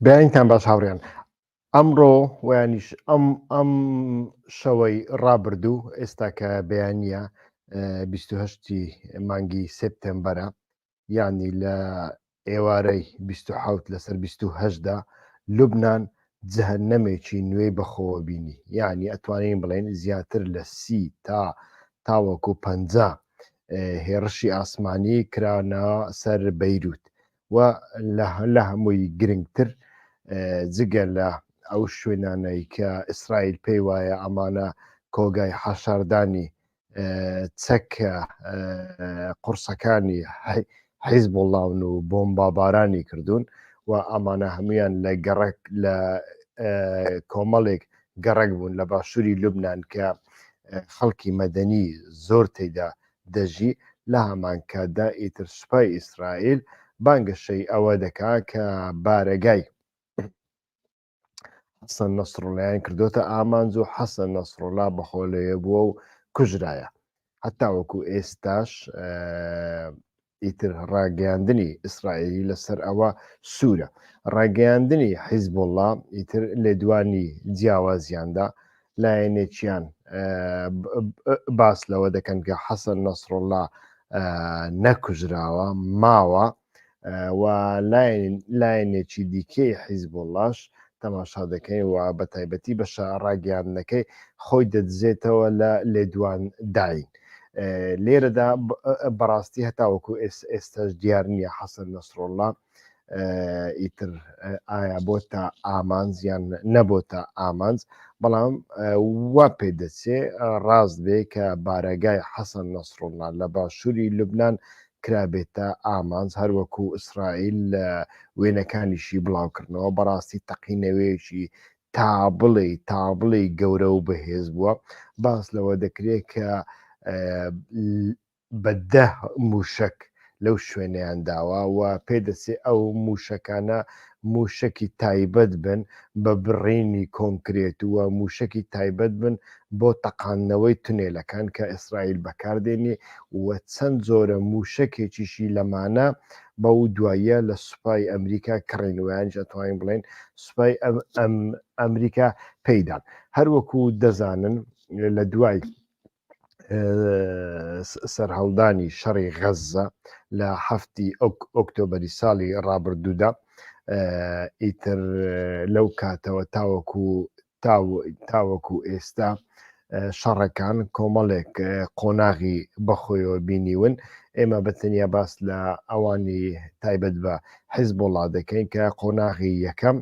بیانتان باش هاوڕێن ئەمڕۆ ویانیش ئەم ئەم شەوەی ڕابردوو ئێستا کە بەیانە 28 مانگی سپتمبەرە ینی لە ئێوارەی 26 لەسەر 28دا لوبناان جهە نەمێکی نوێی بەخۆوە بینی یعنی ئەتوانین بڵێن زیاتر لە سی تا تاوەکو پ هێڕشی ئاسمانی کرانە سەر بەیروت و لە هەمووی گرنگتر جگە لە ئەو شوێنانەی کە ئیسرائیل پێی وایە ئەمانە کۆگای حەشاردانی چەک قورسەکانی حیزبوڵاون و بۆمبابارانی کردوون و ئەمانە هەمویان لە گەڕک لە کۆمەڵێک گەڕک بوون لە باشووری لوبناان کە خەڵکی مەدەنی زۆر تێدا دەژی لە هەمانکاتدا ئیتر سوپای ئیسرائیل بانگەشەی ئەوە دەکا کە بارەگای حەسەن نەسرڵیان کردوتە ئامانج و حەسەن نەسرڵا بەخۆ لەوێ بووە و کوژرایە حتا وەکو ئێستاش ئیتر ڕاگەاندنی ئیسرائیلی لەسەر ئەوە سوورە ڕاگەاندنی حیزب وڵام ئیتر لێدوانی جیاوازیاندا لایەنێکیان باس لەوە دەکەن کە حەسەن نەسرڵا نەکوژراوە ماوە و لایەنێکی دیکەی حیزبوڵڵاش تەماشا دەکەین و بە تایبەتی بەشە ڕاگەیاندنەکەی خۆی دەدزێتەوە لە لێدوانداین. لێرەدا بەڕاستی هەتاوەکو ئێستاش دیار نییە حەسەن نەسرۆڵڵا ئیتر ئایا بۆ تا ئامانزیان نەبۆ تا ئامانز بەڵام وا پێ دەچێ ڕاست بێ کە بارەگای حەسەن نەسرۆڵنا لە باشووری لوبناان کرابێتە ئامانج هەروەکو ئیسرائیل لە وێنەکانیشی بڵاوکردنەوە بەڕاستی تەقینەوەیەکی تا بڵێ تا بڵێ گەورە و بەهێز بووە باس لەوە دەکرێت کە بە دە موشک لەو شوێنیان داوە و پێدەچێ ئەو موشەکانە مووشەکی تایبەت بن بە بڕینی کۆنکرێت و مووشەکی تایبەت بن بۆ تەقاندنەوەی تونێلەکان کە ئیسرائیل بەکاردێنێ و چەند جۆرە مووشەکێکیشی لەمانە بەو دواییە لە سوپای ئەمریکا کڕین و یانیش ئەتوانین بڵێین سوپای ئەمریکا پێیدان هەروەکو دەزانن لە دوای سەرهەڵدانی شەڕی غەززە لە هەفتی ئۆکتۆبری ساڵی ڕابردوودا ئیتر لەو کاتەوە تاوەکو تاوەکو ئێستا شەڕەکان کۆمەڵێک قۆناغی بەخۆیەوە بینیون ئێمە بەتەنیا باس لە ئەوانی تایبەت بە حیز بۆڵا دەکەین کە قۆناغی یەکەم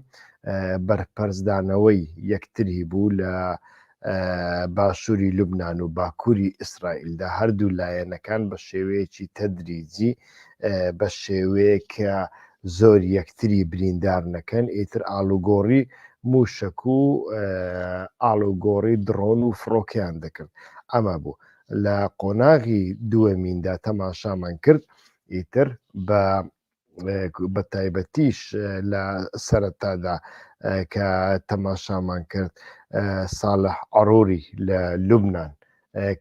بەرپەرزدانەوەی یەکتری بوو لە باشووری لوبنان و باکووری ئیسرائیلدا هەردوو لایەنەکان بە شێوەیەکی تەدریجی بە شێوەیەکە زۆر یەکتری بریندار نەکەن ئیتر ئالوگۆڕی موشک و ئالوگۆڕی دڕۆن و فڕۆکیان دەکرد ئەمە بوو لە قۆناغی دووەمیندا تەماشامان کرد ئیتر بە بە تایبەتیش لە سەرەتادا کە تەماشامان کرد ساڵە عڕوری لە لوبناان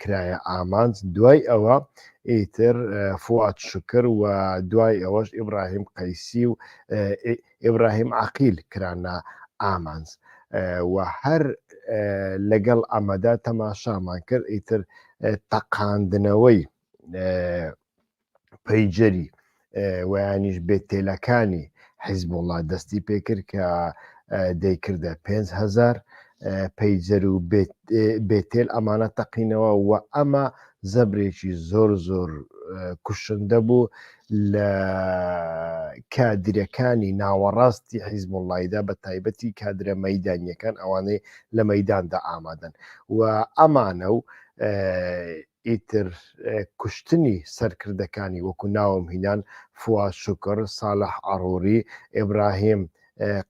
کرایە ئامانج دوای ئەوە ئیتر فوات شکر و دوای ئەوەش ئیبراهیم قەیسی و ئیبراهیم عقیل کرانە ئامانج و هەر لەگەڵ ئەمەدا تەماشامان کرد ئیتر تەقاندنەوەی پەیجەری ویانیش بێت تێلەکانی حیزب وڵات دەستی پێکرد کە دەیکردە 5هزار پەیجەر و بێتێل ئەمانە تەقینەوە و ئەمە زەبرێکی زۆر زۆر کوشندە بوو لە کادرەکانی ناوەڕاستی حیزم وڵایدا بە تایبەتی کادرە مەدانیەکان ئەوانەی لە مەداندا ئامادەن و ئەمانە و ئیتر کوشتنی سەرکردەکانی وەکو ناوم هینان، فواد شوکر، ساڵح عەڕووری، ئیبراهیم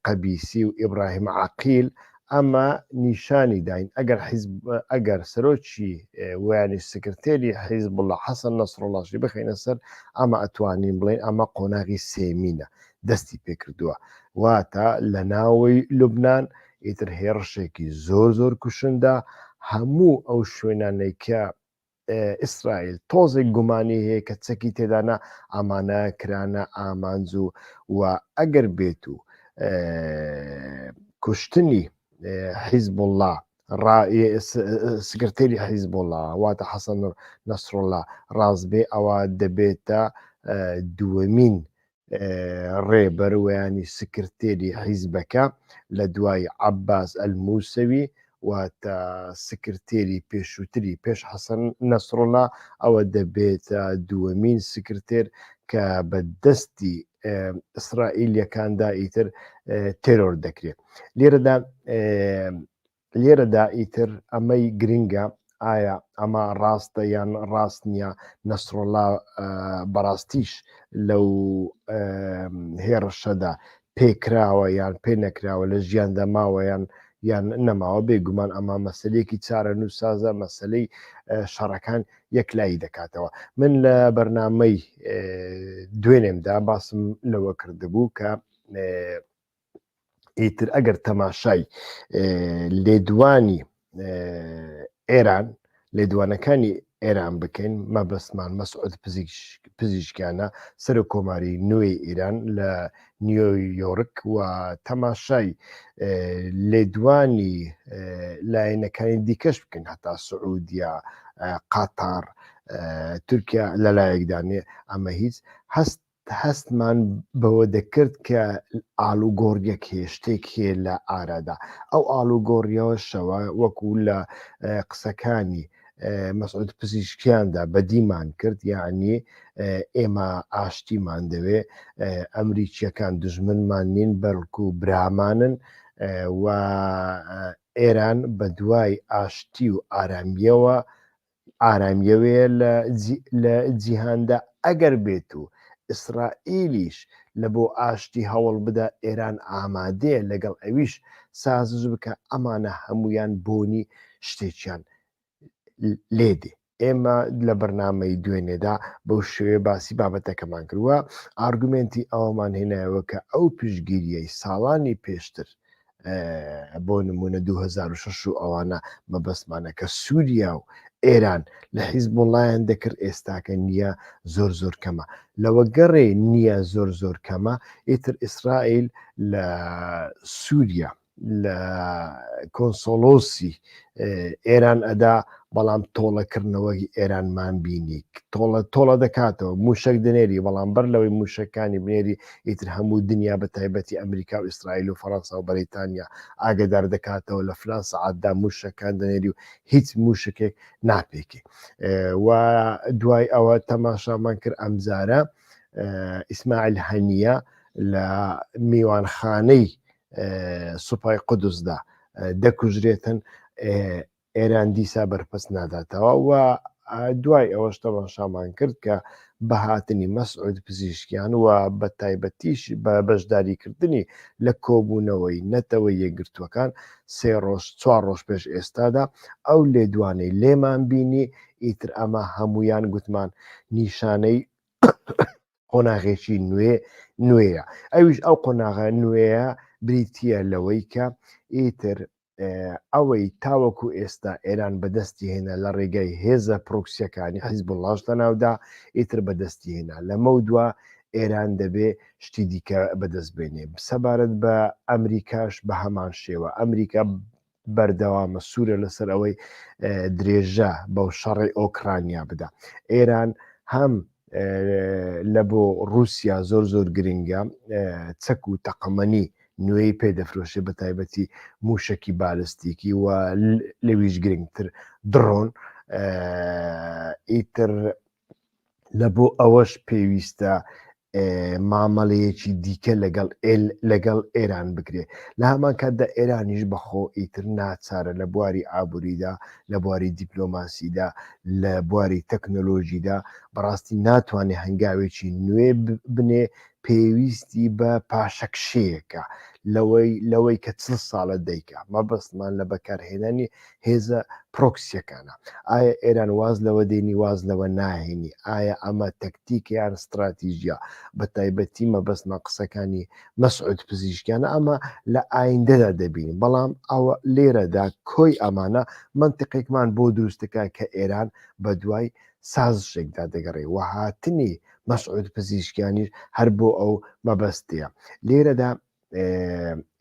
قەبیسی و ئیبراهیم عەقیل، ئەمە نیشانی داین ئەگەر حیزب ئەگەر سەرۆکی وەیانی سکرتێری حیزبوڵا حەسەن نەسڕوڵاشی بخەینە سەر ئەمە ئەتوانین بڵێین ئەمە قۆناغی سێمینە دەستی پێکردووە واتە لە ناوەی لوبنان ئیتر هێڕشێکی زۆر زۆر کوشندە هەموو ئەو شوێنانەی کە ئیسرائیل تۆزێک گومانی هەیە کە چەکی تێدانە ئامانە کرانە ئامانج و و ئەگەر بێت و کوشتنی حیزبله سکرتێری حیزبله واتە حەسەن نەسرۆلا ڕاستبێ ئەوە دەبێتە دووەمین ڕێبەر وەیانی سکرتێری حیزبەکە لە دوای عەباس ئەلموسەوی واتە سکرتێری پێشووتری پێش حەسەن نەسڕڵا ئەوە دەبێتە دووەمین سکرتێر کە بە دەستی ئیسرائیلەکاندا ئیتر تێرۆر دەکرێت لێرەدا لێرەدا ئیتر ئەمەی گرنگە ئایا ئەمە ڕاستە یان ڕاست نییە نەسرۆلا بەڕاستیش لەو هێڕشەدا پێکراوە یان پێ نەکراوە لە ژیان دەماوەیان یان نەماوە بێگومان ئەمە مەسلەیەکی چارە نووسازە مەسلەی شەڕەکان یەکلایی دەکاتەوە من لە بەرنمەی دوێنێمدا باسم لەوە کردبوو کە ئیتر ئەگەر تەماشای لێدوانی ئێران لێدوانەکانی ئێران بکەین مەبەستمان مەسعود پزیشکیانە سەر و کۆماری نوێی ئێران لە نیۆیۆرک و تەماشای لێدوانی لایەنەکانی دیکەش بکەن هەتا سعودیا قاتار تورکیا لە لایەکدانێ ئەمە هیچ هەست هەستمان بەوە دەکرد کە ئاڵوگۆڕیەک هەیە شتێک هەیە لە ئارادا ئەو ئاڵوگۆڕیەوەشەوە وەکو لە قسەکانی مەسعود پزیشکیاندا بەدیمان کرد یعنی ئێمە ئاشتیمان دەوێ ئەمریکیەکان دژمنمان نین بەڵکو برامانن و ئێران بە دوای ئاشتی و ئارامیەوە ئارامیەوەیە لە لە جیهاندا ئەگەر بێت و ئیسرائیلیش لە بۆ ئاشتی هەوڵ بدا ئێران ئامادەیە لەگەڵ ئەویش سازش بکە ئەمانە هەمویان بۆنی شتێکیان لێ دێ ئێمە لە بەرنمەی دوێنێدا بەو شوێ باسی بابەتەکەمان کردووە ئارگومنتی ئەومان هێنایەوە کە ئەو پشگیریەی ساڵانی پێشتر بۆ نمونە 2006 و ئەوانە مەبەستمانە کە سووریا و ئێران لە حیزب وڵیان دەکرد ئێستاکە نییە زۆر زۆر کەمە لەوە گەڕێ نییە زۆر زۆر کەمە ئیتر ئیسرائیل لە سووریا لە کۆنسۆلۆسی ئێران ئەدا بەڵام تۆڵەکردنەوەی ئێرانمان بینی تۆڵە تۆڵە دەکاتەوە موشک دنێری بەڵام بەر لەوەی موشەکانی بنێری ئیتر هەموو دنیا بە تایبەتی ئەمریکا و ئیسرائیل و فەڕەنسا و بەریتانیا ئاگدار دەکاتەوە لە فلان سعاتدا موشەکان دەنێری و هیچ موشکێک ناپێکی و دوای ئەوە تەماشامان کرد ئەمزارە ئیسماعیل هەنیە لە میوانخانەی سوپای قودسدا دەکوژرێتن ئێران دیسا بەرپەست ناداتەوە و دوای ئەوەش تەماشامان کرد کە بە هاتنی مەسعود پزیشکیان و بە تایبەتیش بە بەشداریکردنی لە کۆبوونەوەی نەتەوە یەکگرتووەکان سێ ڕۆژ چوار ڕۆژ پێش ئێستادا ئەو لێدوانەی لێمان بینی ئیتر ئەمە هەمویان گوتمان نیشانەی قۆناغێکی نوێ نوێیە ئەویش ئەو قۆناغە نوێیە بریتە لەوەی کە ئیتر ئەوەی تاوەکو ئێستا ئێران بەدەستی هێنا لە ڕێگای هێزە پرۆکسیەکانی حیزب و لاش لە ناودا ئیتر بەدەستی هێنا لەمە دووە ئێران دەبێ شتی دیکە بەدەست بێنێ سەبارەت بە ئەمریکاش بە هەمان شێوە ئەمریکا بەردەوامە سوورە لەسەر ئەوەی درێژە بەو شەڕی ئۆکرانیا بدا ئێران هەم لە بۆ رووسیا زۆر زۆر گرنگە چەک و تەقەمەنی نوێی پێ دەفرۆشێ بە تایبەتی موشکی بالستیکی و لەویش گرنگتر دڕۆن ئیتر لە بۆ ئەوەش پێویستە مامەڵەیەکی دیکە لەگەڵ ئێل لەگەڵ ئێران بکرێ لە هەمان کاتدا ئێرانیش بەخۆ ئیتر ناچارە لە بواری ئابووریدا لە بواری دیپلۆماسیدا لە بواری تەکنۆلۆژیدا بەڕاستی ناتوانێ هەنگاوێکی نوێ بنێ پێویستی بە پاشەکشەیەەکە لەوەی لەوەی کە چل ساڵە دەیکە مەبەستمان لە بەکارهێنانی هێزە پرۆکسیەکانە ئایا ئێران واز لەوە دێنی واز لەوە ناهێنی ئایا ئەمە تەکتیکیان ستراتیژە بە تایبەتی مەبەستمە قسەکانی مەسعود پزیشکیانە ئەمە لە ئایندەدا دەبین بەڵام ئەوە لێرەدا کۆی ئەمانە منتیقێکمان بۆ دروستەکە کە ئێران بە دوای سازشێکدا دەگەڕێ وهاتنی مەسعود پزیشکیانیش هەر بۆ ئەو مەبەستەیە لێرەدا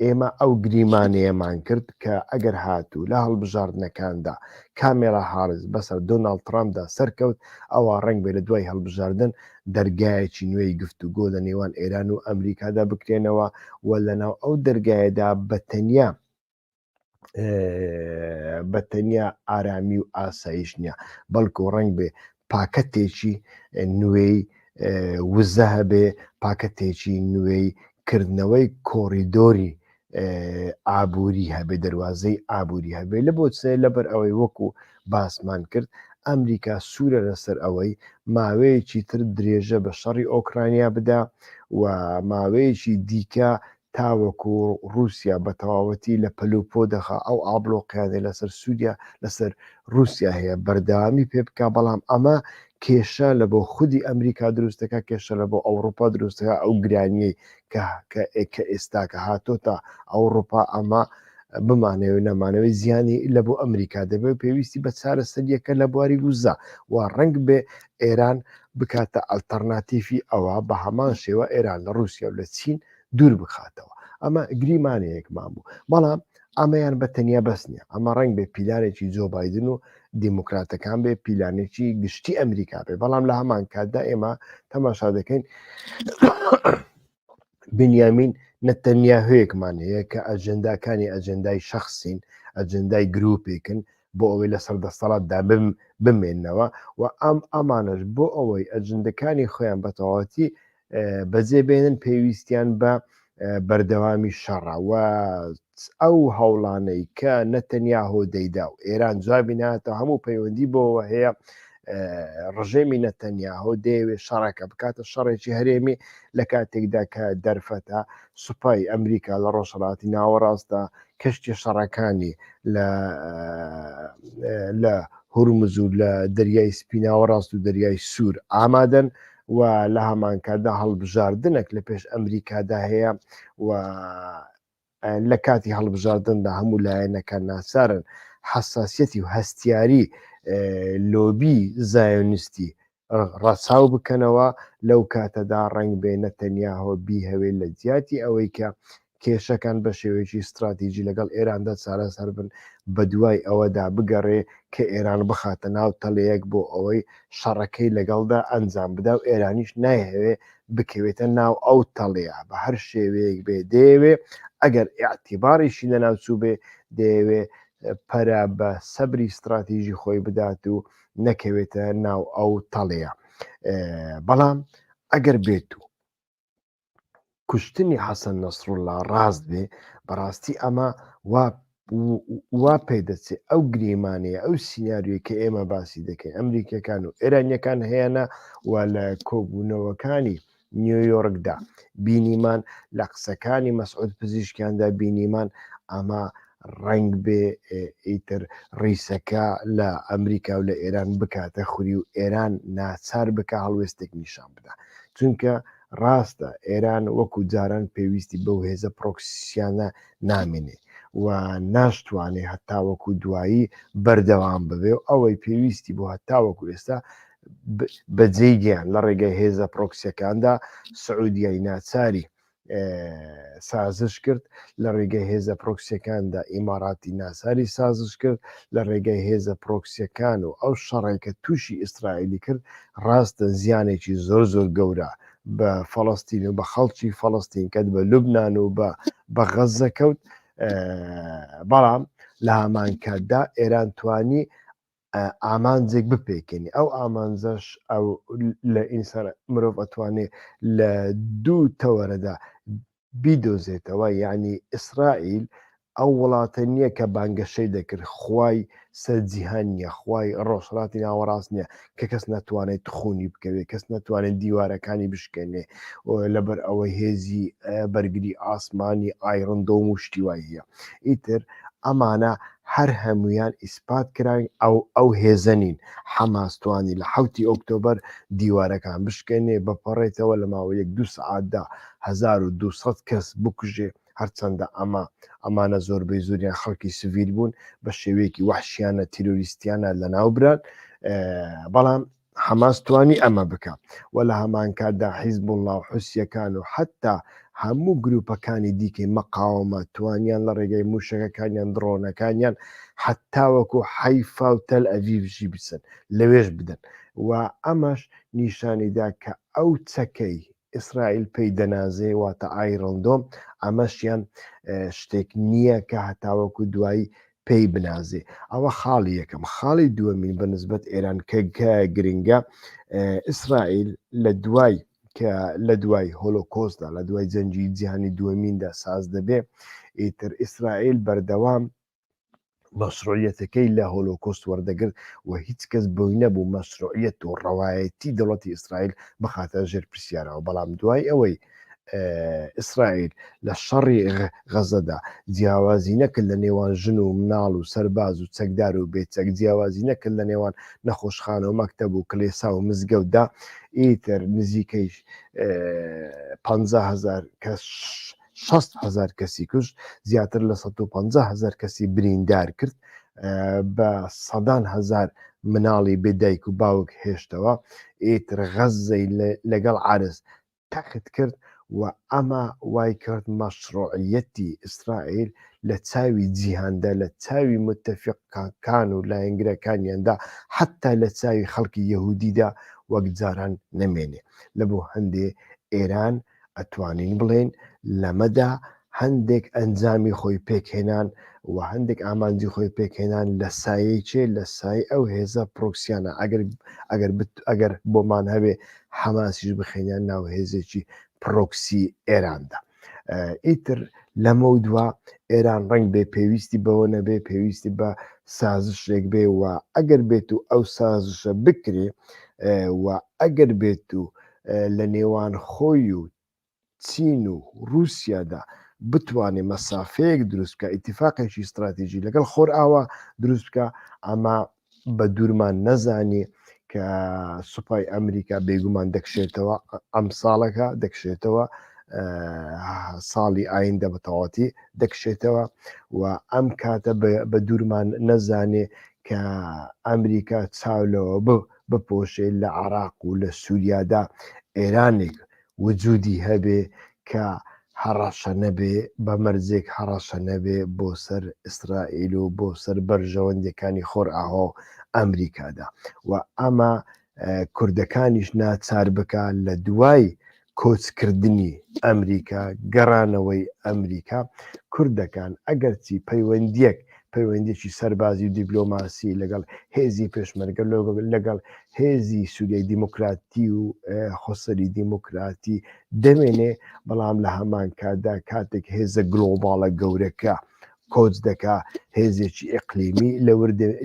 ئێمە ئەو گریمانەیەمان کرد کە ئەگەر هاتوو لە هەڵبژاردنەکاندا کامێرا هاارز بەسەر دۆناڵ ترامدا سەرکەوت ئەوە ڕنگ بێ لە دوای هەڵبژاردن دەرگایەکی نوێی گفت و گۆ لە نێوان ئێران و ئەمریکادا بکرێنەوە و لە ناو ئەو دەرگایەدا بە تەنیا بە تەنیا ئارامی و ئاسایش نییە بەڵکو ڕنگ بێ پاکەتێکی نوێی وزە هەبێ پاکەتێکی نوێی کردنەوەی کۆریدۆری ئابووری هەبێ دەواازەی ئابووری هەبێ لە بۆ سێ لەبەر ئەوەی وەکو باسمان کرد ئەمریکا سوورە لەسەر ئەوەی ماوەیەکی تر درێژە بە شەڕی ئۆکرانیا بدا و ماوەیەکی دیکە تاوەکو ڕووسیا بە تەواوەتی لە پەل و پۆ دەخا ئەو ئابڵۆقەیانەی لەسەر سووریا لەسەر ڕووسیا هەیە بەردەوامی پێ بکا بەڵام ئەمە کێشە لە بۆ خودی ئەمریکا دروستەکە کێشە لە بۆ ئەوروپا دروستەکە ئەو گرانیەی کە کە ئێستاکە هاتۆ تا ئەوروپا ئەمە بمانەوە نەمانەوەی زیانی لە بۆ ئەمریکا دەبێت پێویستی بە چارە سەریەکە لە بواری وزە و ڕنگ بێ ئێران بکاتە ئەلتەرناتیفی ئەوە بە هەمان شێوە ئێران لە رووسیا و لە چین دوور بخاتەوە ئەمە گریمانەیەکمان بوو بەڵام ئەمەیان بە تەنیا بەس نیە ئەمە ڕنگ بێ پیلانێکی جۆ بادن و دیموکراتەکان بێ پیلانێکی گشتی ئەمریکا بێ بەڵام لە هەمان کاتدا ئێمە تەماشا دەکەین بنیامین نەتەنیا هەیەکمان هەیە کە ئەجنداکانی ئەجندای شخصین ئەجندای گرروپێکن بۆ ئەوەی لە سەر دەستەڵات دابم بمێنەوە و ئەم ئامانش بۆ ئەوەی ئەجندەکانی خۆیان بەتەواتی بەجێ بێنن پێویستیان بە بەردەوامی شەڕە و ئەو هەوڵانەی کە نەتەنیا هۆدەیدا و ئێران جوابی ناتە هەموو پەیوەندی بۆەوە هەیە ڕژێمی نەتەنیاهۆ دەیەوێ شەڕەکە بکاتە شەڕێکی هەرێمی لە کاتێکدا کە دەرفەتە سوپای ئەمریکا لە ڕۆژهڵاتی ناوەڕاستە کەشتی شەڕەکانی لە لە هورمزور لە دەریای سپیناوە ڕاست و دەریای سوور ئامادەن و لە هەمانکاتدا هەڵبژاردنەک لە پێش ئەمریکادا هەیە و لە کاتی هەڵبژاردندا هەموو لایەنەکە ناسارن حساسەتی و هەستیاری لۆبی زایۆنیستی ڕەچاو بکەنەوە لەو کاتەدا ڕنگ بێنە تەنیا هۆبی هەوێ لە جیاتی ئەوەی کە کێشەکان بە شێوەیەکی ستراتیجی لەگەڵ ئێراندا چارەسەر بن، بەدوای ئەوەدا بگەڕێ کە ئێران بخاتە ناو تەلەیەک بۆ ئەوەی شەڕەکەی لەگەڵدا ئەنجام بدا و ئێرانیش نایهەوێ بکەوێتە ناو ئەو تەڵەیە بە هەر شێوەیەک بێ دەیەوێ ئەگەر ئیعتیباریشی لەناو چووبێ دەیەوێ پەرە بە سەبری ستراتیژی خۆی بدات و نەکەوێتە ناو ئەو تەڵەیە بەڵام ئەگەر بێت و کوشتنی حەسەن نەسروللا ڕاست بێ بەڕاستی ئەمە وا وا پێ دەچێت ئەو گریمانەیە ئەو سینناریۆی کە ئێمە باسی دەکەین ئەمریکەکان و ئێرانیەکان هەیەە و لە کۆبوونەوەکانی نیویۆرکدا بینیمان لە قسەکانی مەسعود پزیشکیاندا بینیمان ئەمە ڕنگ بێ ئیتر ڕیسەکە لە ئەمریکا و لە ئێران بکاتە خوری و ئێران ناچار بکە هەڵوێستێک نیشان بدا چونکە ڕاستە ئێران وەکو جاران پێویستی بەو هێزە پرۆکسییانە نامێنێ و ناشتوانێ هەتاوەکو دوایی بەردەوام ببێ و ئەوەی پێویستی بۆ هەتاوەکو ئێستا بەجێی گیان لە ڕێگەی هێزە پرۆکسیەکاندا سعودیای ناچاری سازش کرد لە ڕێگەی هێزە پرۆکسیەکاندا ئیماراتی ناساری سازش کرد لە ڕێگەی هێزە پرۆکسیەکان و ئەو شەڕێکە تووشی ئیسرائیلی کرد ڕاستە زیانێکی زۆر زۆر گەورە بە فەڵەستین و بە خەڵکی فەڵەستین کەت بە لوبناان و بە بە غەزە کەوت بەڵام لە هامانکاتدا ئێران توانی ئامانجێک بپێکێنی ئەو ئامانجەش ئەو لە ئینسان مرۆڤ ئەتوانێ لە دوو تەوەرەدا بیدۆزێتەوە یەعنی ئیسرائیل ئەو وڵاتە نیە کە بانگەشەی دەکرد خوای سەر جیهان نیە خوای ڕۆژهەڵاتی ناوەڕاست نیە کە کەس نەتوانێت خونی بکەوێت کەس نەتوانێت دیوارەکانی بشکێنێ لەبەر ئەوەی هێزی بەرگری ئاسمانی ئایرندۆم و شتی وای هەیە ئیتر ئەمانە هەر هەمویان ئیسپات کراین ئەو ئەو هێزەنین حەماستوانی لە حوتی ئۆکتۆبەر دیوارەکان بشکێنێ بەپەڕێتەوە لە ماوە یەک دو سعاتدا هەزار و دوو سەد کەس بکوژێ، هەرچەندە ئەمە ئەمانە زۆربەی زۆریان خەڵکی سڤیل بوون بە شێوەیەکی وەحشیانە تیرۆریستیانە لەناوبران بەڵام حەماس توانی ئەمە بکە و لە هەمانکاتدا حیزب وڵا و حوسیەکان و حتا هەموو گروپەکانی دیکەی مەقاومە توانیان لە ڕێگەی موشەکەکانیان دڕۆنەکانیان حتاوەکو حیفا و تەل ئەڤیڤژی بچن لەوێش بدەن و ئەمەش نیشانیدا کە ئەو چەکەی ئیسرائیل پێی دەنازێ واتە ئایرن دۆم ئەمەشیان شتێک نییە کە هەتاوەکو دوایی پێی بنازێ ئەوە خاڵی یەکەم خاڵی دووەمین بە نسبەت ئێران کە گرنگە ئیسرائیل لە دوای کە لە دوای هۆلۆکۆسدا لە دوای جەنجی جیهانی دووەمیندا ساز دەبێ ئیتر ئیسرائیل بەردەوام مەسرۆعیەتەکەی لە هۆلۆکۆست وەردەگرت و هیچ کەس بۆی نەبوو مەسرۆعیەت و ڕەوایەتی دەوڵەتی ئیسرائیل بخاتە ژێر پرسیارەوە بەڵام دوای ئەوەی ئیسرائیل لە شەڕی غەزەدا جیاوازی نەکرد لە نێوان ژن و مناڵ و سەرباز و چەکدار و بێچەک جیاوازی نەکرد لە نێوان نەخۆشخانە و مەکتەب و کلێسا و مزگەوتدا ئیتر نزیکەی 500هزار کەس شەست هەزار کەسی کوشت زیاتر لە سەد و پەنجا هەزار کەسی بریندار کرد بە سەدان هەزار مناڵی بێ دایک و باوک هێشتەوە ئیتر غەززەی لەگەڵ عرس تەخت کرد و ئەمە وای کرد مەشڕۆعیەتی ئیسرائیل لە چاوی جیهاندا لە چاوی متتەفقەکان و لایەنگرەکانیاندا حتا لە چاوی خەڵکی یەهودیدا وەک جاران نەمێنێ لە بۆ هەندێ ئێران ئەتوانین بڵێین لەمەدا هەندێک ئەنجامی خۆی پێکهێنان و هەندێک ئامانجی خۆی پێکهێنان لە سایەی چێ لە سای ئەو هێزە پرۆکسیانە ئەگەر ئەگەر ئەگەر بۆمان هەبێ حەماسیش بخێنیان ناو هێزێکی پرۆکسی ئێراندا ئیتر لەمە و دوا ئێران ڕنگ بێ پێویستی بەوە نەبێ پێویستی بە سازشێک بێ و ئەگەر بێت و ئەو سازشە بکرێ و ئەگەر بێت و لە نێوان خۆی و چین و رووسیادا بتوانێ مەسافەیەک دروست بکە ئیتیفاقێکی ستراتیژی لەگەڵ خۆرئاوا دروست بکە ئەما بە دوورمان نەزانی کە سوپای ئەمریکا بێگومان دەکشێتەوە ئەم ساڵەکە دەکشێتەوە ساڵی ئایندە بە تەواتی دەکشێتەوە و ئەم کاتە بە دوورمان نەزانێ کە ئەمریکا چاو لەوە بوو بپۆشێ لە عێراق و لە سوریادا ئێرانێک وجودی هەبێ کە هەڕەشە نەبێ بە مەرجێک هەڕەشە نەبێ بۆ سەر ئیسرائیل و بۆ سەر بەرژەوەندەکانی خۆرئاوا و ئەمریکادا و ئەمە کوردەکانیش ناچار بکە لە دوای کۆچکردنی ئەمریکا، گەڕانەوەی ئەمریکا، کوردەکان ئەگەرچی پەیوەندییەک پەیوەندییەکی سەربازی و دیپلۆماسی لەگەڵ هێزی پێشمەرگە لەگەڵ هێزی سووریای دیموکراتی و خۆسەری دیموکراتی دەمێنێ بەڵام لە هەمان کاتدا کاتێک هێزە گلۆباڵە گەورەکە کۆچ دەکا هێزێکی ئیقلیمی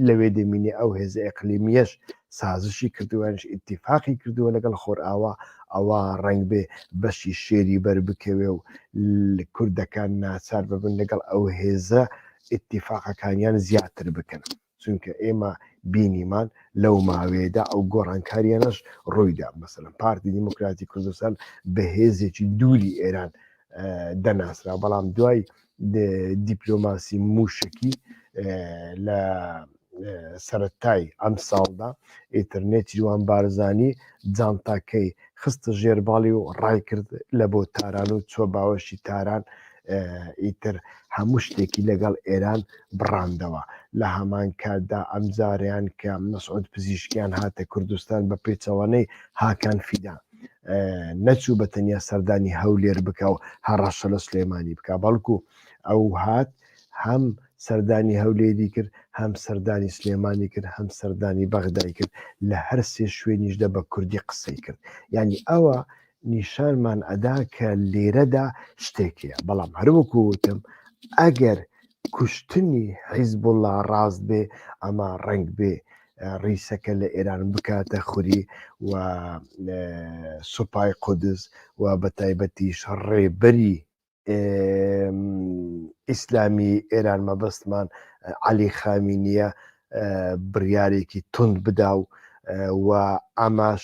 لەوێ دەمینێ ئەو هێزە ئەقلیمیەش سازشی کردووانش ئتیفاقی کردووە لەگەڵ خۆرئاوا ئەوە ڕنگ بێ بەشی شێری بەر بکەوێ و کوردەکان ناچار ببن لەگەڵ ئەو هێزە ئتیفاقەکانیان زیاتر بکەن چونکە ئێمە بینیمان لەو ماوەیەدا ئەو گۆڕانکاریانەش ڕوویدا مەسەلەن پارتی دیموکراتی کوردستان بە هێزێکی دووری ئێران دەناسرا بەڵام دوای دیپلۆماسی موشکی لە سەرەتای ئەم ساڵدا ئیترنێتیوان بارزانی جانتاکەی خستە ژێرباڵی و ڕای کرد لە بۆ تاران و چوە باوەشی تاران ئیتر هەموو شتێکی لەگەڵ ئێران بڕاندەوە لە هەمان کاتدا ئەم جاریان کە مەسعود پزیشکیان هاتە کوردستان بە پێچەوانەی هاکان فیدا نەچوو بە تەنیا سەردانی هەولێر بکە و هەڕەشە لە سلێمانی بکە بەڵکو ئەو هات هەم سەردانی هەولێری کرد هەم سەردانی سلێمانی کرد هەم سەردانی بەغدای کرد لە هەر سێ شوێنیشدا بە کوردی قسەی کرد ینی ئەوە نیشانمان ئەدا کە لێرەدا شتێکەیە بەڵام هەروەکو وتم ئەگەر کوشتنی حیزبوڵا ڕاست بێ ئەمە ڕنگ بێ ڕیسەکە لە ئێران بکاتە خوری و سوپای قودز و بە تایبەتیش ڕێبەری ئیسلامی ئێران مەبەستمان علی خامی نییە بڕیارێکی تند بدا و و ئاماش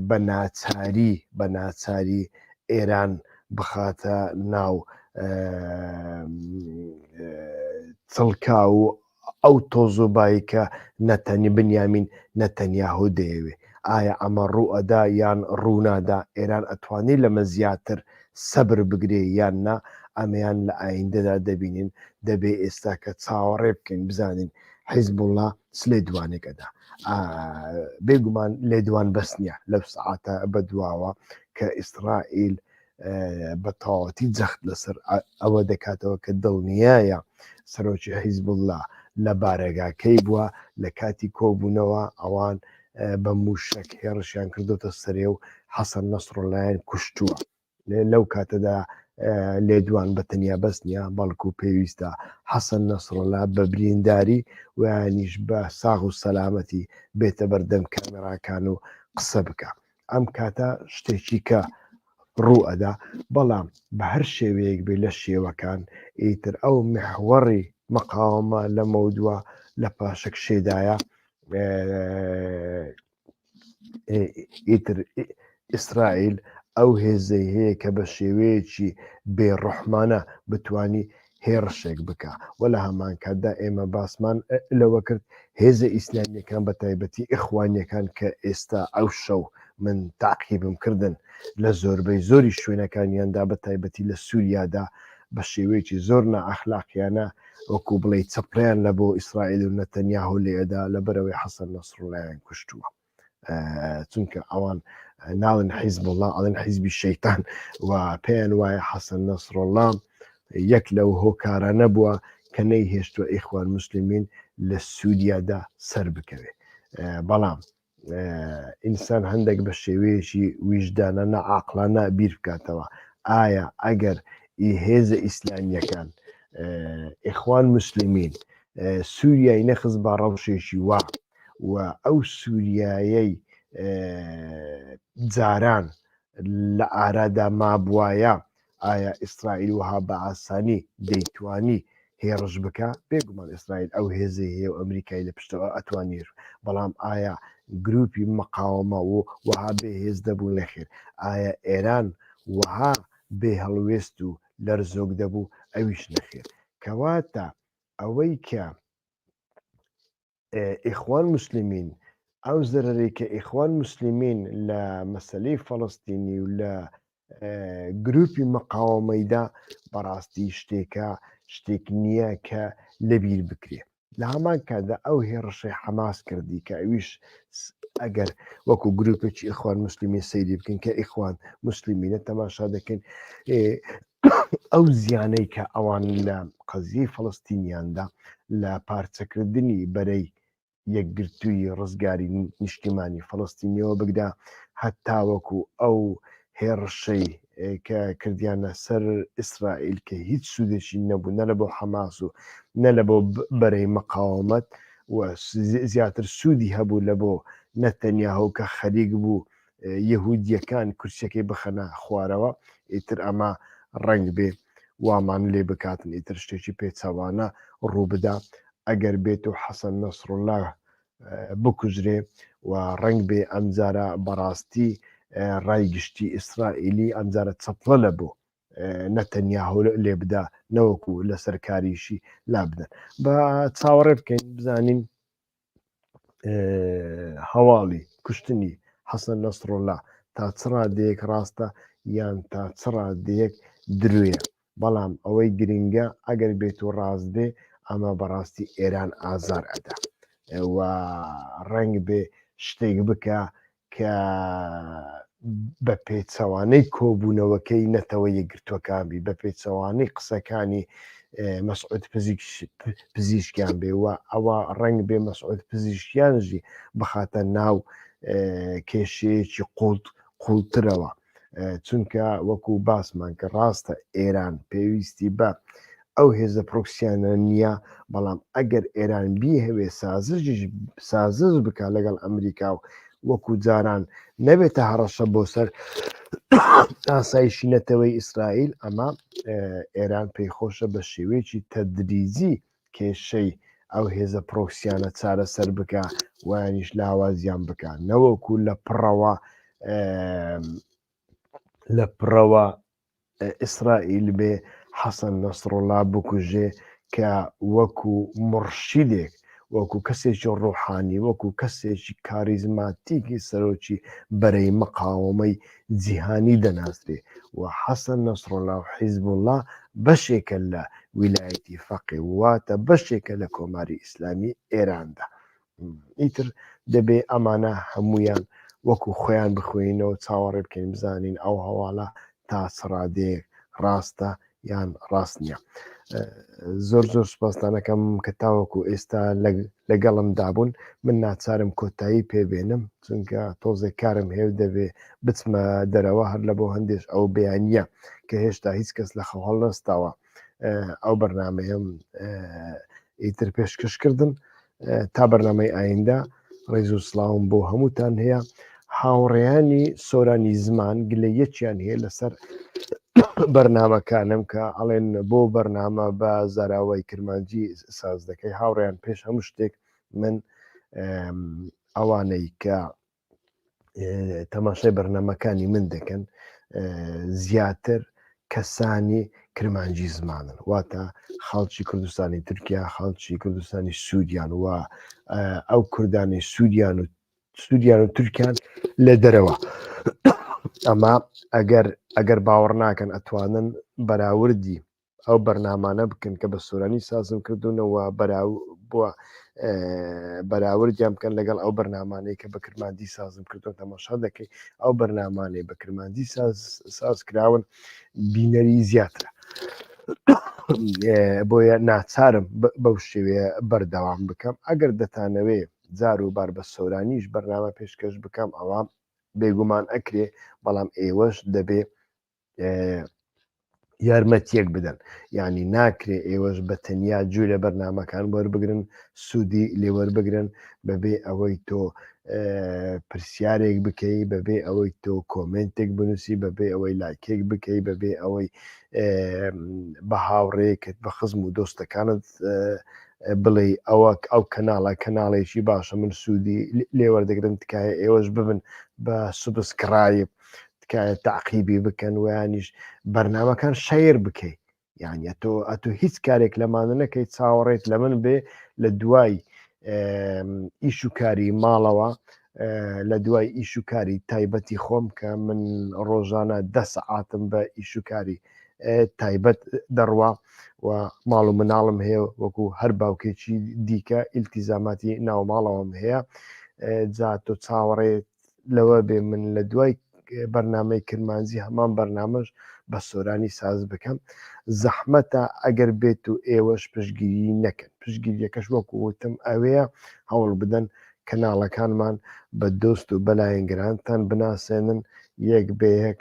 بە ناچاری بە ناچاری ئێران بخاتە ناو چڵکا و ئەو تۆز و بایی کە نەتەنی بنیامین نەتەنیاهو دەیەوێ ئایا ئەمە ڕوو ئەدا یان ڕوو نادا ئێران ئەتوانێ لەمە زیاتر سەبر بگرێ یان نا ئەمەیان لە ئایندەدا دەبینین دەبێ ئێستاکە چاوەڕێ بکەین بزانین حیزبوڵا چ لێدوانێک ئەدا بێگومان لێدوان بەس نیە لەو سعاتە بەدواوە کە ئیسرائیل بە تەواوەتی جەخت لەسەر ئەوە دەکاتەوە کە دڵنیایە سەرۆکی حیزبله لە بارەگاکەی بووە لە کاتی کۆبوونەوە ئەوان بە موشک هێڕشیان کردوتە سەرێ و حەسەن نەسرۆلایەن کوشتووە لەو کاتەدا لێدوان بە تەنیا بەس نیە بەڵکو و پێویستە حەسەن نەسرۆلا بە برینداری ویانیش بە ساغ و سەلامەتی بێتە بەردەم کامێراکان و قسە بکە ئەم کاتە شتێکی کە ڕوو ئەدا بەڵام بە هەر شێوەیەک بێ لە شێوەکان ئیتر ئەو محوەڕی مەقاومە لە مەودووە لە پاشەک شێدایە ئیتر ئیسرائیل ئەو هێزەی هەیە کە بە شێوەیەکی بێڕحمانە بتانی هێڕشێک بکا وە لە هەمان کاتدا ئێمە باسمان لەوە کرد هێزە ئیسلامیەکان بە تایبەتی ئیخوانیەکان کە ئێستا ئەو شەو من تاقیبم کردن لە زۆربەی زۆری شوێنەکانیاندا بە تایبەتی لە سووریادا بە شێوەیەکی زۆر نەعەخلاقیانە وەکو بڵێ چەپڕیان لە بۆ ئیسرائیل و نەتەنیاهۆ لێدا لە بەرەوەی حەسەن نەسرڵیان کوشتووە چونکە ئەوان ناڵن حیزب وڵام ئەڵێن حیزبی شەیتان و پێیان وایە حەسەن نەسرۆڵام یەک لەو هۆکارانە بووە کە نەی هێشتوە ئیخوان مسللمین لە سووریادا سەر بکەوێت بەڵام ئینسان هەندێک بە شێوەیەکی ویژدانە نەعاقلانە بیر بکاتەوە ئایا ئەگەر هێزە ئیسلامیەکان ئیخوان مسللمین سووریای نەخز بە ڕەوشێکی وا و ئەو سوریایەی جاران لە ئارادا مابوایە ئایا ئیسرائیل وها بە ئاسانی دەیتوانی هێڕش بکە بێگومان ئیسرائیل ئەو هێزی هەیە و ئەمریکای لە پشتەوە ئەتوانیر بەڵام ئایا گروپی مقاومە و وها بێ هێز دەبوو نەخێر ئایا ئێران وها بێ هەڵوێست و لەرزۆک دەبوو ئەویش نەخێر کەواتە ئەوەی کە ئیخوان موسلمین ئەو زەرەرەی کە ئیخوان موسلمین لە مەسلەی فەڵستینی و لە گروپی مەقاوەمەیدا بەڕاستی شتێکە شتێک نییە کە لەبیر بکرێ لە هەمان کاتدا ئەو هێڕشەی حەماس کردی کە ئەویش ئەگەر وەکو گروپێکی ئیخوان مسللیمی سەیری بکەن کە ئیخوان مسللیمینە تەماشا دەکەین ئەو زیانەی کە ئەوان لە قەزیەی فەڵەستینیاندا لە پارچەکردنی بەرەی یەکگرتووی ڕزگاری نیشتیمانی فەڵەستینیەوە بگدا هەتاوەکو ئەو هێڕشەی کە کردیانە سەر ئیسرائیل کە هیچ سوودێکی نەبوو نە لە بۆ حەماس و نە لە بۆ بەرەی مەقاومەت زیاتر سوودی هەبوو لە بۆ نەتەنیاهو کە خەریک بوو یەهودیەکان کورسەکەی بخەنە خوارەوە ئیتر ئەمە ڕنگ بێ وامان لێ بکاتن ئیتر شتێکی پێچەوانە ڕووبدا ئەگەر بێت و حەسەن نەسرڵە بکوژرێ و ڕنگ بێ ئەمجارە بەڕاستی ڕای گشتی ئیسرائیلی ئەمجارە چەپڵە لە بۆ نەتەنیا هەول لێ بدا نەوەکو لەسەر کاریشی لابدەن بە چاوەڕێ بکەین بزانین هەواڵی کوشتنی حەسەن نەسڕڵە تا چڕادەیەک ڕاستە یان تا چڕادەیەک دروێ بەڵام ئەوەی گرنگە ئەگەر بێت و ڕاست بێ ئەمە بەڕاستی ئێران ئازار ئەدا و ڕنگ بێ شتێک بکە کە بە پێچەوانەی کۆبوونەوەکەی نەتەوە یەکگرتووەکان بی بە پێچەوانەی قسەکانی مەسعود پزیشکیان بێ و ئەوە ڕنگ بێ مەسعود پزیشکیانژی بخاتە ناو کێشەیەکی قوڵت قوڵترەوە چونکە وەکو باسمان کە ڕاستە ئێران پێویستی بە ئەو هێزە پرۆکسیانە نییە بەڵام ئەگەر ئێران بیهوێ سازش سازز بکە لەگەڵ ئەمریکا و وەکو جاران نەبێتە هەڕەشە بۆ سەر ئاسایشی نەتەوەی ئیسرائیل ئەمە ئێران پێی خۆشە بە شێوەیەکی تەدریزی کێشەی ئەو هێزە پرۆکسیانە چارەسەر بکە وانیش لاوازیان بکە نەوەکو لە پڕەوە لە پڕەوە ئیسرائیل بێ حەسەن نەسرۆڵا بکوژێ کە وەکو مڕشیدێک وەکو کەسێکی ڕۆحانی وەکو کەسێکی کاریزماتیکی سەرۆکی بەرەی مقاومەی جیهانی دەناسرێ و حەسەن نەسڕوڵا و حیزبوڵا بەشێکە لە ویلایەتی فەقێ و واتە بەشێکە لە کۆماری ئیسلامی ئێراندا. ئیتر دەبێ ئەمانە هەموویان وەکوو خۆیان بخوێنینەوە چاوەڕێ بکەین بزانین ئەو هەواڵە تا چ ڕادەیەک ڕاستە یان ڕاست نییە زۆر زۆر سپاستانەکەم کە تاوەکو ئێستا لەگەڵم دابوون من ناچارم کۆتایی پێبێنم چونکە تۆزێک کارم هێو دەبێ بچمە دەرەوە هەر لە بۆ هەندێش ئەو بیانە کە هێشتا هیچ کەس لە خەواڵ نستاوە ئەو بەرنمەیەم ئیتر پێشکەشکردن تا بەرنمەی ئایندە ڕێز و سلااوم بۆ هەمووتان هەیە هاوڕێیانی سۆرانی زمان گلە یەکیان هەیە لەسەر بەرنمەکانم کە ئەڵێن بۆ بەرنامە بە زاراوای کرمانجی ساز دەکەی هاوڕێیان پێش هەموو شتێک من ئەوانەی کە تەماشای بەرنمەکانی من دەکەن زیاتر کەسانی کرمانجی زمانن واتە خەڵکی کوردستانی تورکیا خەڵکی کوردستانی سوودیان و ئەو کوردانی سوودیان و سوودیان و تورکیان لە دەرەوە ئەما ئەگەر ئەگەر باوەڕ ناکەن ئەتوانن بەراوردی ئەو بەرنامانە بکەن کە بە سۆرانی سازم کردوونەوە بووە بەراوردیان بکەن لەگەڵ ئەو بەرنمانەی کە بە کرماندی سازم کردو تەماشا دەکەی ئەو بەرنمانەی بە کرماندی ساز کراون بینەری زیاترە بۆیە ناچارم بەو شێوەیە بەردەوام بکەم ئەگەر دەتانەوێ زار و بار بە سۆرانیش بەرنامە پێشکەش بکەم ئەوە بێگومان ئەکرێ بەڵام ئێوەش دەبێ یارمەتیەک بدەن یعنی ناکرێ ئێوەش بە تەنیا جوێ لە بەرنمەکان وەربگرن سوودی لێوەربگرن بەبێ ئەوەی تۆ پرسیارێک بکەی بەبێ ئەوەی تۆ کۆمنتێک بنووسی بەبێ ئەوەی لاکێک بکەی بەبێ ئەوەی بە هاوڕێکت بە خزم و دۆستەکانت بڵێ ئەوە ئەو کەناڵە کەناڵێکی باشە من سوودی لێوەردەگرن تکایە ئێوەش ببن بە سوبسکرایب تکایە تاقیبی بکەن ویانیش بەرنمەکان شەیر بکەیت یان ئەتۆ ئەتو هیچ کارێک لەمانە نەکەی چاوەڕێت لە من بێ لە دوای ئیش و کاری ماڵەوە لە دوای ئیش و کاری تایبەتی خۆم کە من ڕۆژانە دە سەعاتم بە ئیش و کاری تایبەت دەڕوا و ماڵ و مناڵم هەیە وەکو هەر باوکێکی دیکە ئیلتیزاماتی ناوماڵەوەم هەیە جا تۆ چاوەڕێت لەوە بێ من لە دوای بەرنامەی کرمانجی هەمان بەرنامەش بە سۆرانی ساز بکەم زەحمەتە ئەگەر بێت و ئێوەش پشگیری نەکەن پشگیریەکەش وەکو وتم ئەوەیە هەوڵ بدەن کەناڵەکانمان بە دۆست و بەلایەنگرانتان بناسێنن یەک بەیەک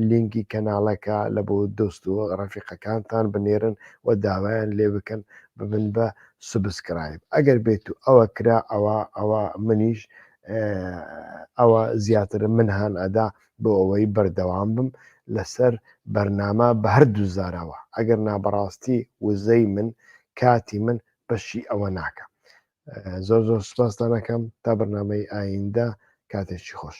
لینکی کەناڵەکە لە بۆ دۆست و ڕەفیقەکانتان بنێرن و داوایان لێ بکەن ببن بە سبسکرایب ئەگەر بێت و ئەوە کرا ئەوە ئەوە منیش ئەوە زیاترم من هاان ئەدا بۆ ئەوەی بەردەوام بم لەسەر بەرنامە بە هەردوو زارەوە ئەگەر نابڕاستی وزەی من کاتی من بەشی ئەوە ناکە زۆر زۆر سپاستانەکەم تا بەرنمەی ئایندە کاتێکی خۆش